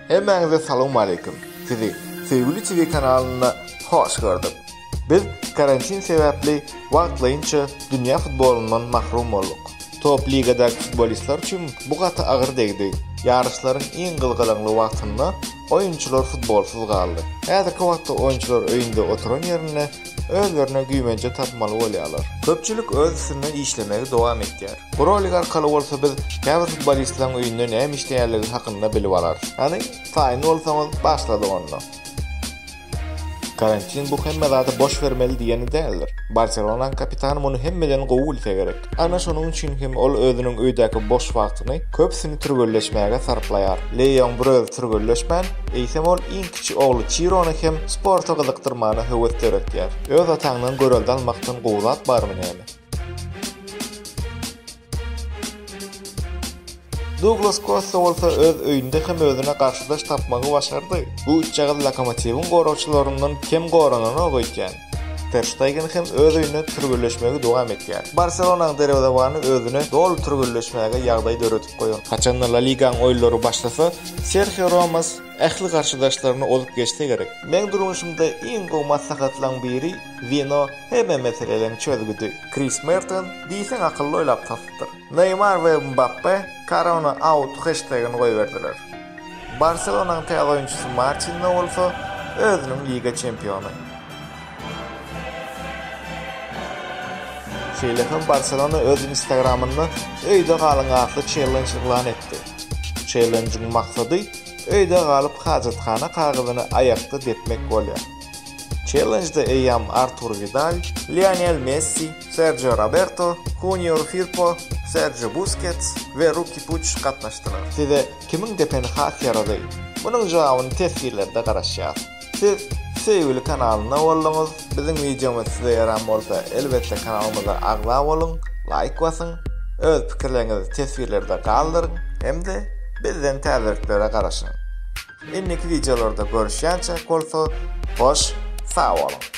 Hemmäňize salawmaleýkim. Sizi Söýgüli TV kanalynda hoş gördük. Biz karantin sebäpli wagtlaýynça dünýä futbolyndan mahrum bolduk. Top ligadaky futbolistler üçin bu gaty agyr degdi. Ýaryşlaryň iň gyzgalaňly wagtynda oýunçylar futbolsuz galdy. Häzirki wagtda oýunçylar öýünde oturan ýerinde özlerine güýmenje tapmaly bolýarlar. Köpçülik öz üstünde işlemegi dowam etýär. Bu rolik arkaly bolsa biz käbir futbolistleriň öýünde näme işleýänligi hakynda bilip alarys. Hany, taýyn bolsaňyz, başladyk onda. Karantin bu hemme zady boş bermeli diýeni däldir. Barselonaň kapitany muny hemmeden gowy bilse gerek. Ana şonuň üçin hem ol özüniň öýdäki boş wagtyny köpüsini türgenleşmäge sarplaýar. Leýoň biraz türgenleşmän, eýsem ol iň kiçi ogly Çirony hem sporta gyzykdyrmana höwes döretýär. Öz ataňdan görelde almakdan gowy zat barmy näme? Duglas Kosta bolsa öz öýünde hem özüne garşydaş tapmagy başardy. Bu üçjagaz Lokomotiwiň goragçylaryndan kem gorananok öýtýän. Ter Ştegen hem öz öýünde türgenleşmegi dowam etýär. Barselonanyň derwezebany özüne doly türgenleşmäge ýagdaý döredip goýan. Haçan-da La Ligaň oýunlary başlasa, Serhio Romas ähli garşydaşlaryny ozup geçse gerek. Meň durmuşymda iň gowy maslahatlaň biri Wino hemme meseleleriň çözgüdi. Kris Merton diýseň akylly oýlap tapypdyr. Neýmar we Mbappe Korona out heştegini goýberdiler. Barselonanyň täze oýunçysy Marçinlo bolsa özüniň liga çempiony. Şeýle hem Barselona öz Instagramynda Öýde galyň atly çellenj yglan etdi. Çellenjiň maksady öýde galyp hajathana kagyzyny aýakda depmek bolýar. Çellenjde eýýäm Artur Widal, Lionel Messi, Serjio Roberto, Hunior Firpo, Serjio Buskets we Ruki Puç gatnaşdylar. Size kimiň depeni has ýarady? Munuň jogabyny teswirlerde garaşýas. Siz Söýgüli kanalynda bolduňyz. Biziň wideomyz size ýaran bolsa elbetde kanalymyza agza boluň, laýk basyň, öz pikirleriňizi teswirlerde galdyryň hem-de bizden täzeliklere garaşyň. Indiki wideolarda görüşýänçä bolsa hoş sag boluň.